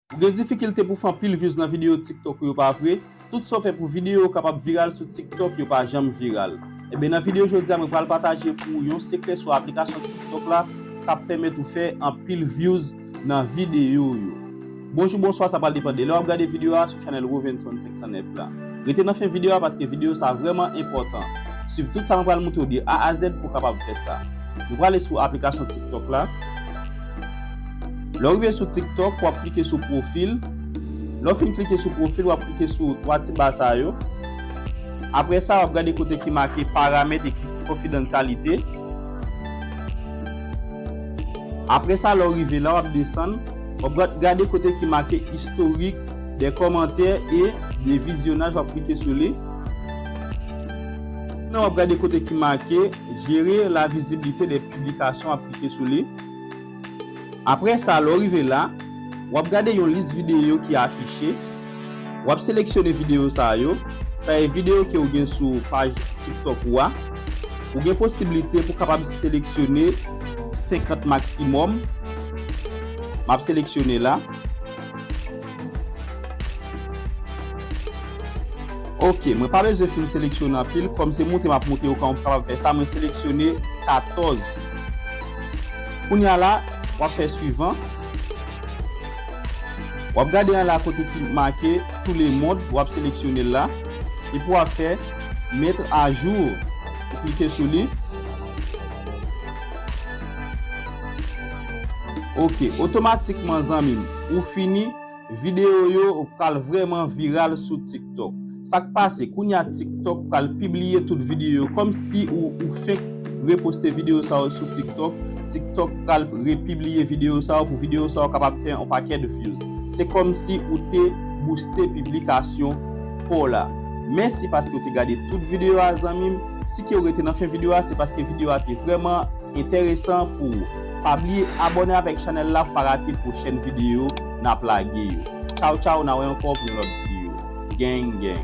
Ou gen difikilte pou fè anpil views nan video tiktok ou yo pa vre? Tout sa w fè pou video w kapab viral sou tiktok yo pa janm viral? Enben nan video jodi a mwen pral pataje pou ou yon sekrè sou aplikasyon tiktok la kap pèmèt ou fè anpil views nan video w yo. Bonjou bonswa sa pral depan de lè wap gade video a sou chanèl Rovenson 514. 109 la. Rete nan fen video a paske video sa vreman enpotan. Swiv tout sa mwen pral moutre w de A a Z pou w kapab fè sa. Nou prale sou aplikasyon tiktok la. Lè w rive sou tiktok wap klike sou profil. Lè w fin klike sou profil wap klike sou 3 ti ba sa yo. Apre sa wap gade kote ki make paramèt e konfidansyalite. Apre sa lè w rive la wap desann. Wap gade kote ki make istorik. De kòmantè e de vizyonaj wap klike sou li. Nan wap gade kote ki make jere la vizibilite de piblikasyon wap klike sou li. Apre sa lè w rive la, wap gade yon lis videyo ki afiche. Wap seleksyone videyo sa yo. Sa e videyo ke ou gen sou paj TikTok ou a. Ou gen posibilite pou kapab seleksyone 50 maksimòm. Map seleksyone la. Ok mwen pa bezwen fin seleksyone anpil kòm se moute map moute yo kòm kapab fè sa mwen seleksyone 14 kounya la wap fè suivan wap gade anla kote ki make tou le mond wap seleksyonel la epi wap fè mettre a jour ou klike sou li. Ok otomatikman zanmim ou fini Video yo pral vrèman viral sou tiktok Sak pase kounya tiktok pral pibliye tout video yo kòmsi ou fenk reposte video sa yo sou tiktok Tiktok pral repibliye video sa yo pou video sa yo kapab fè yon pakèt views Se kòmsi ou te bouste piblikasyon paw la Mèsi paskew te gade tout video a zanmim Si kew rete nan fen video a se paske video a te vrèman enteresan pou ou. Pa bliye abone avek chanel la pou pa rate pwochen video nap lage yo. Chow chow na wè anko pou yon lot video. Gang gang.